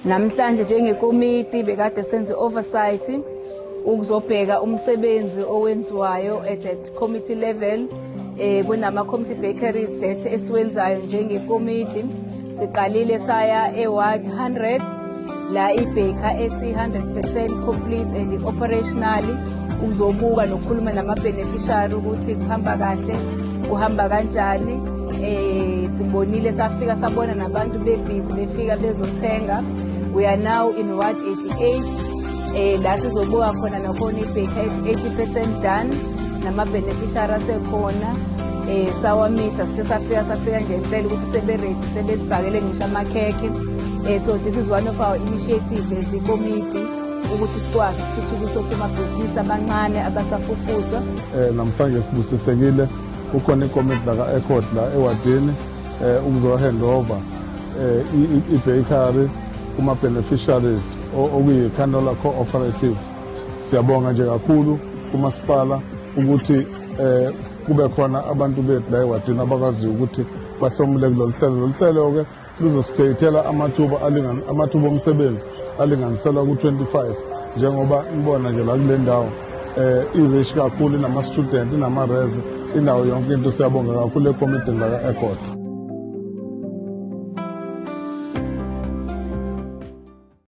Namhlanje njengekomiti bekade senze oversight ukuzobheka umsebenzi owenziwayo at a committee level eh kunama committee bakeries that esiwenzayo njengekomiti siqalile saya eward 100 la ibaker esi 100% complete and operational uzobuka nokukhuluma nama beneficiary ukuthi kuhamba kahle kuhamba kanjani Eh sibonile safika sabona nabantu bebhizi befika bezothenga. We are now in Ward 88. Eh la sizobuka khona nakhona ibhekha 80% done nama beneficiary asekhona. Eh sawamitha sithe safika safika nje impela ukuthi sebe ready sebesibhakele ngisho amakhekhe. Eh so this is one of our initiatives as a committee. ukuthi sikwazi sithuthukise osomabhizinisi abancane abasafufusa. Eh namhlanje sibusisekile kukhona ikomiti laka-ecod la ewadini um eh, ukuzohand over um ibakery kuma-beneficiaries okuyi-canola cooperative siyabonga nje kakhulu kumasipala ukuthi um kube khona abantu bethu la ewadini abakwaziyo ukuthi bahlomule kulolu hlelo lolu hlelo-ke luzosikhethela amathuba amathuba omsebenzi alinganiselwa ku-25 njengoba nibona nje la kule ndawo eh irish kakhulu inama-student inama-reze indawo yonke into siyabonga kakhulu ekomidini laka-egoda